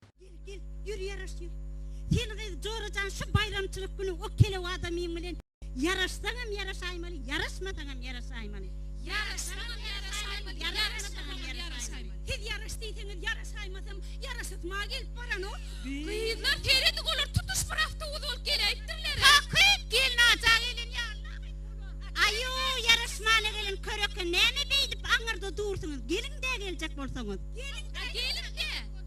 Gel, gel, ýür ýaraş ýür. Sen gyz Jora jan şu baýramçylyk güni o kelew adamyň bilen ýaraşsaňam ýaraşaýmaly, ýaraşmasaňam ýaraşaýmaly. Ýaraşsaňam ýaraşaýmaly, ýaraşmasaňam ýaraşaýmaly. Siz ýaraş diýseňiz ýaraşaýmasam ýaraşasym-a gelip baran-ow. Gyzlar, seredip olar tutuş bir awtobus bolup geläýipdirler-ä. Hakyt, gelin aja gelen ýaly-la gyz bular. Aýo, ýaraşmana gelen köreke näme beýdip aňyrda dursuňyz, geliň-dä geljek bolsaňyz. Geliň-dä, geliň-dä.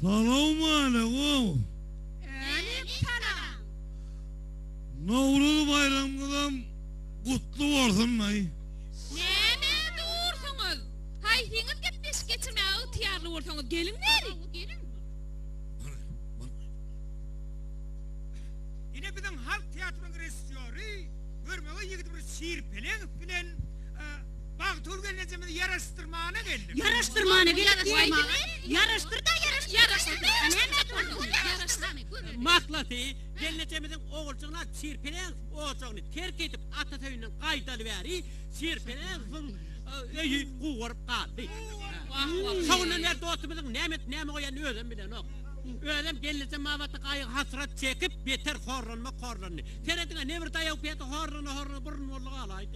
Salawmaleýkum. Äleýkum salam. Nowruz baýramyňyzam gutly bolsunlaý. Näme dursuňyz? Haýsyňyz gepleşik geçirmäge ygtyýarly bolsaňyz, geliň bäri. Ine biziň halk teatrynyň režissýory görmege ýigidimiz Şir Peleňow bilen Magtymguly gelnejemizi ýaraşdyrmana geldim. Ýaraşdyrmana gelip diýmegi? Ýaraşdyr-da ýaraşdyr-da ýaraşdyr. Mahlasy, gelnejemiziň oguljygyna Şirpenezowyň ojagyny terk edip, atasy öýünden gaýdaly bäri Şirpenezowyň öýi gugaryp galdy. Şo günden bäri dostumyzyň näme edip, näme goýanyny özem bilenok. Özem gelnejem babatda gaýgy-hasrat çekip, beter horlanmak horlandy. Serediň-ä, nebir daýaw-pýada horlana-horlana burun boldy galaýdy.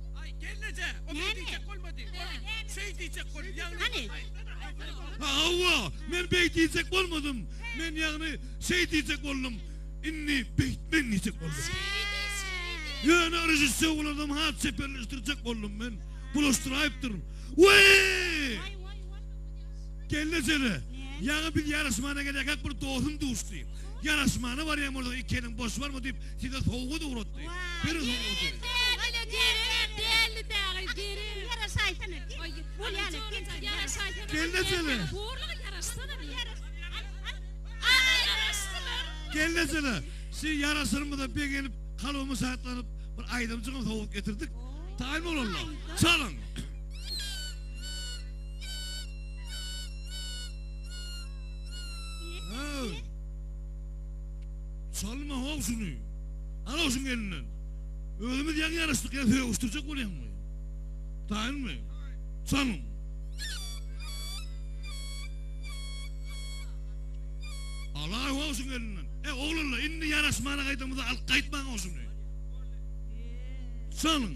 Aý gelneje, o meý diýjek bolmady. Ol şeý diýjek boldy. Ýagny. Hany? Hawa, men beý diýjek bolmadym. Men ýagny şeý diýjek boldum. Indi beýtmen diýjek boldum. Şeýdi, şeýdi. Ýöne režissýor bulardan has çeperleşdirjek boldum men. Bulaşdyraýypdyryn. Weý! Waý, waý, waý. Gelneje-de, ýaňy biz ýaraşmana gelýärkäk bir dostum duşdy. Ýaraşmana barýan bolsaň, ikiniň boş barmy diýip, Size sowgat ugratdy. Beriň sowgady. Gelne sene. Gelne sene. Siz yaraşyrmyza begenip, kalbimi şatlanyp, bir aýdymçygyň sowgat getirdik. Taýyn bolanlar. Çalyň. Salma how şuny. Al-a şuny elinden. Özümiz ýaňy ýaraşdyk, ýa sögüşdirjek bolýaňmy? Taýynmy? Çalyň. Al-a how şuny elinden. E, oglanlar, indi ýaraşmana gaýdamyz-a, alyp gaýtmaň-a şuny. Çalyň.